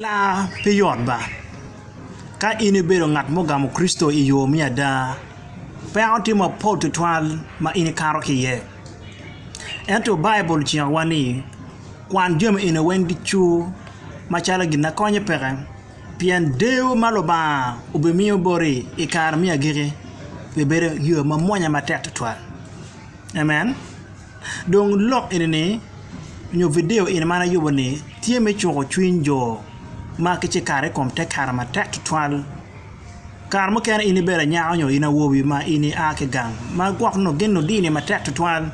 Laa pe yot ba. Ka in ibedo ngat mugamo Kricito i yo me ada, peko tye mapol tutwal ma in ikato ki iye. Ento Baibul cikowa ni kwan jami eni weng ducu macalo gin ma konyi peke, pien deyo ma Lubanga obimiyo boti i kare me agikki bibedo yo mamwonya matek tutwal. Amen. Dong lok eni ni nyo video eni man ayubo ni tye me cuko cwiny jo ma ki ci kato ikom te kare matek tutwal kare mukene in ibedo anyaka nyo in awobi ma in i a ki gang ma gwok nongo gin nongo dini matek tutwal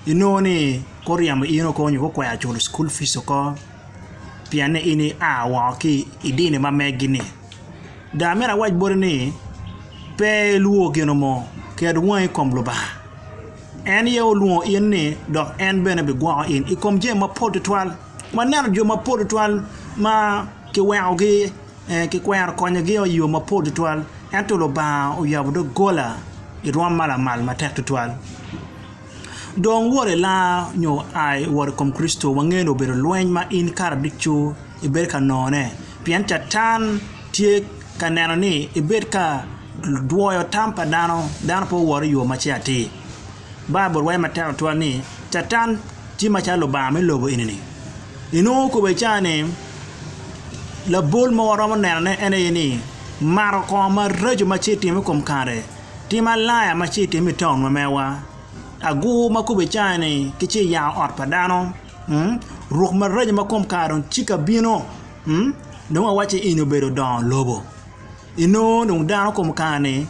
inongo ni guryemo in oko nyo gukwero culo cukul pic oko. pienne in ia woko ki i dini ma megi-ni. Dong amito awac boti ni pe ilwor gin mo, ket wangi i kom Lubanga. En aye olwongo in ni dok en bene bigwoko in i kom jami mapol tutwal. Waneno jo mapol tutwal ma kiwekogi, kikwero konyogio i yo mapol tutwal ento Lubanga oyabo doggola i rwom ma lamal matek tutwal. Dong wot i langa nyo a i wot i kom Kricito wangeyo ni obedo lweny ma in kare ducu ibedo ka nongone, pien Catan tye ka neno ni ibed ka dwoyo tam pa dano, dano pe wot i yo ma ce atir. Baibul waco matek tutwal ni Catan tye macalo lubanga me lobo eni-ni. Inongo kobbe ca ni labol ma waromo nenone en aye ni mato kongo maraco ma ce itimo i kom kare. Tim alaya ma ci itime i taun ma mewa. Agur ma kube icayo ni ki ci iyango ot pa dano. Ruk maraco ma kom kare dong cika bino. Dong awaci eni obedo dongo lobo. Inongo dong dano kom kare ni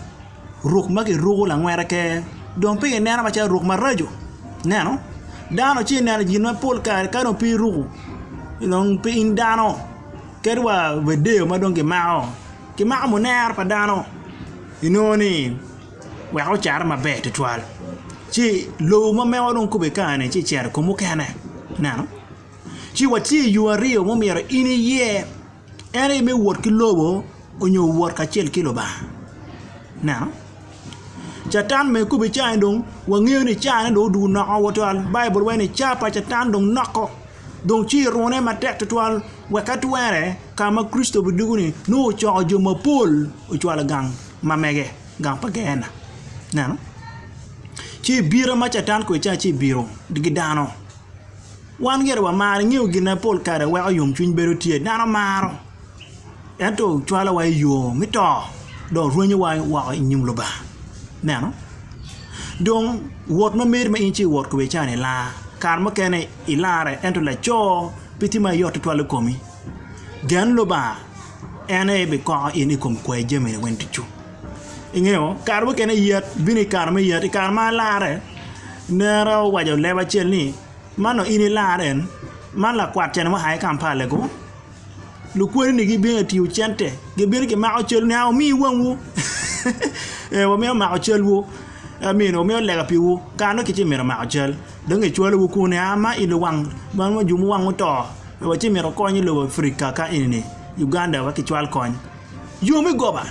ruk ma ki ruku langwete ke dong pe ineno macalo ruk maraco. Ineno? Dano ci ineno gin ma pol kare ka dong pe iruku dong pe in dano. Ket wa video ma dong ki mako. Ki mako munero pa dano. Inongo ni wek ocarre maber tutwal ci lobo ma meko dong kube kane ci cito i kom mukene ineno ci watye i yo aryo ma myero in iye en aye me wot ki lobo nyo wot kacel ki Lubanga ineno catan bene kube cani dong wangeyo ni cane dong odwogo noko tutwal Baibul waco ni car pa catan dong noko. dong ci irune matek tutwal wek ka twere ka ma Kricito bidwogo-ni nongo ocoko jo mapol ocwalo i gang ma mege, gang pa Geena. Ineno? Ci i bira ma Catan kwede ca ci ibiro digi dano. Wan gire wamaro ingeyo gin ma pol kare weko yomcwiny bedo tye, dano maro. ento cwalowa i yo me to dok rwenyowa woko i nyim Lubanga. Ineno? Dong wot ma meri ma in ce iwot kwede ca-ni ilar, kare mukene ilarre ento laco pe tye ma yot tutwal i komi. Gen Lubanga, en aye bikoko in i kom kwayi jamini weng ducu. Ingeyo? Kare mukene yat bino i kare me yat, i kare ma alarre, nera owaco leb acel ni, 'Man dong in ilar en, man lakwat cene ma oa ki Kampala-gu. Lukwodini gibino i tiyo cente, gibino gimako cal nia wumi wangwu ee wamito mako calwu aminoo wamito lega piwu kara nongo kiti mito mako cal dong kicwalowu kunu nia ma i luwang man ma jo muwang oto watye mito kony i lobo Africa ka enini Uganda wa kicwal kony. Yo me goba.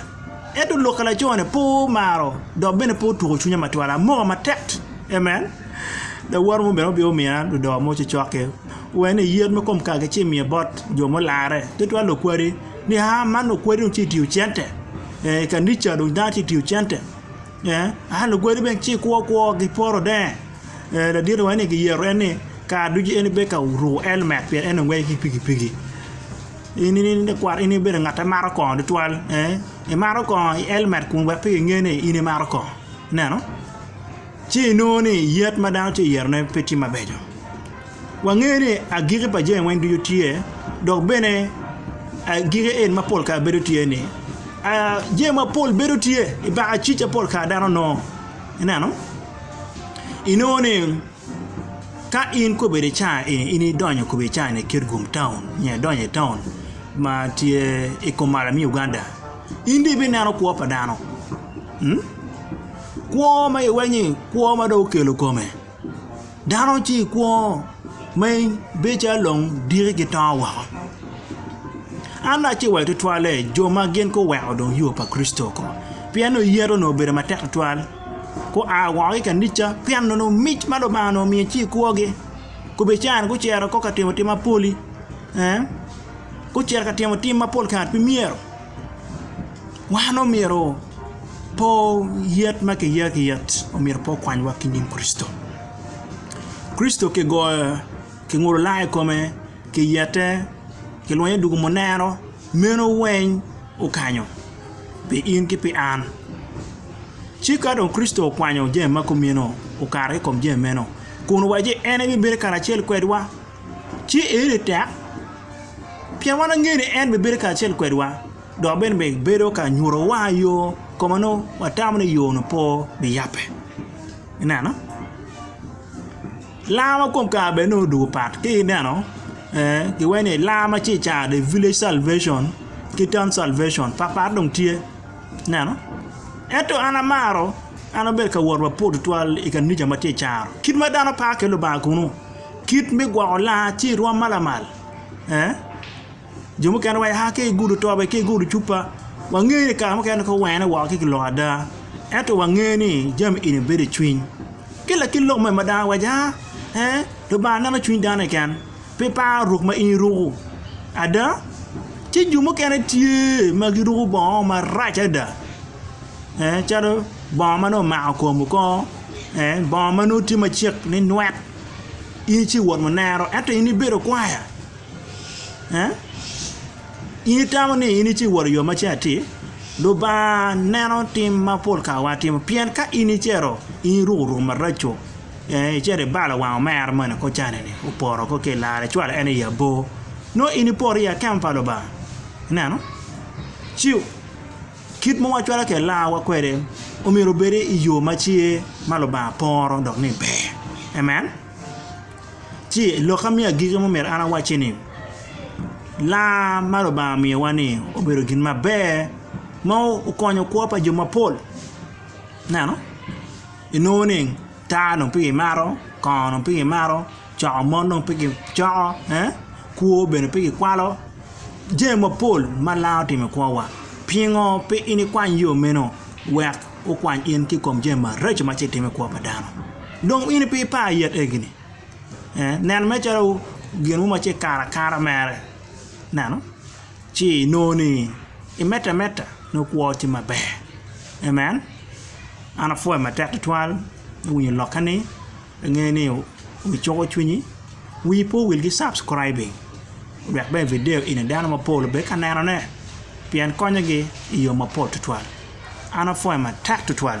Ento lok a laco-ni pe omaro dok bene pe otwoko cwinya matwal. Amoka matek. Amen! Lawote mo bene obino omiya ludoo mo ci cokke. Owaco ni, 'Yet ma kom kagi ci imiye bot jo mularre, tutwal lukwadi. Ni, 'Aa man lukwadi dong tye ka tiyo cente. I kanica dong dano tye ka tiyo cente. Aa lukwadi bene ci ikwo kwo, giporo denge. Ladit owaco ni, 'Giyeto en ni kare ducu en ibedo ka ruko elmet pien en ongeyo ki pikipiki. In ibedo ngat ma maro kongo tutwal ee imaro kongo i elmet kun wek pe kinge ni in imaro kongo ineno ci inongo ni yat ma dano tye ka yero ne pe tye mabeco wange ni agiki pa jami weng ducu tye dok bene agiki en ma pol kare bedo tye ni jami mapol bedo tye ibaka cika pol kare dano nongo ineno inongo ni Ka in kobedo i caa eni in idonyo kobo i caa ni Kitgum town nyo idonyo i town ma tye i Komala me Uganda in dong ibineno kwo pa dano mm kwo ma iwenyo ni kwo ma dong okelo kome dano ci i kwo ma in bedo calo long diki gitongo woko an dong aciwai tutwalle jo ma gin guweko dong yo pa Kricito oko pien nongo yet onongo obedo matek tutwal. gua woko ki i kanica pien nongo mic ma Lubanga onongo omiyo tye i kwogi gubicayo ni gucito kong ka timo tim mapol-li gucito ka timo tim ma pol kare pe myero wan omyero po yet ma kiya ki yet omyero pe okwanywa ki nyim Kricito, Kricito kigoyo kingudo langa i kome kiyete kilwonye dwogo muneno. Meno weng okanyo pi in ki pi an. Ci ka dong Kricito okwanyo jami ma kumino, okato ki i kom jami meno, kun owaco ni en ebibedo karacel kwedwa, ci eni tek, pien wan wangeyo ni en bibedo karacel kwedwa, dok bene bibedo ka nyutowa yo ka ma nongo watamo ni yo-nu pe biyabbe. Ineno? Lam ma kom kare bene nongo odwogo pat ka ineno kiwaco ni lam ma ci i caro the village salvation ki town salvation pat pat dong tye ineno ento an amaro an abedo ka wot wa pol tutwal i kanija ma tye i caro kit ma dano paro kwede Lubanga kunu kit me gwoko laa ci irwom ma lamal. jo mukene wa ya ki igudo tobe ki igudo cupa wangeyo ni kare mukene nongo wene woko ci kiloko ada ento wangeyo ni jami eni bedo i cwiny ki lakit lok ma dano waco ee Lubanga neno cwiny dano keken pe paro ruk ma in iruku ada ci jo mukene tye ma giruku bongo marac ada calo bongo ma nongo omako kom oko bongo ma nongo tye macek ninwet in ci iwot munero ento in ibedo kwaya Eh? In itamo ni in ice iworo yo mace atir? Lubanga neno tim ma pol kare watimo, pien ka in icito in iruko ruk maraco, eh, icito ibalo wang omera moni kor canini, oporo kor ki larre, icwalo en i abor, nongo in ipoto i akemo pa Lubanga. Ineno? Ci kit ma wacwalo ki larwa kwede omyero obed i yo macer ma Lubanga poro dok ni ber. Amen? Ci lokka me agikki ma omyero an awacci ni laa ma Lubanga omiyowa ni obedo gin maber ma okonyo kwo pa jo mapol ineno inongo ni taa dong pe kimato, kongo dong pe kimato, coko mon dong pe kicoko, kwo bene pe kikwalo jami mapol ma laa otimo i kwowa pingo pe in ikwany yo meno wek okwany in ki i kom jami maraco ma ci itimo i kwo pa dano. Dong in pe ipar yet egi-ni? Ee, nen mere calo gin mo ma ci ikato akata mere, ineno, ci inongo ni imedde ameda nongo kwo tye maber. Amen! An apwoyo matek tutwal me winyo lokke-ni Ange ni wi cuko cwinyi, wii pe owil ki subscribing wek bene video eni dano mapol obed ka neno ne pien konyo gi i yo mapol tutwal. An apwoyo matek tutwal.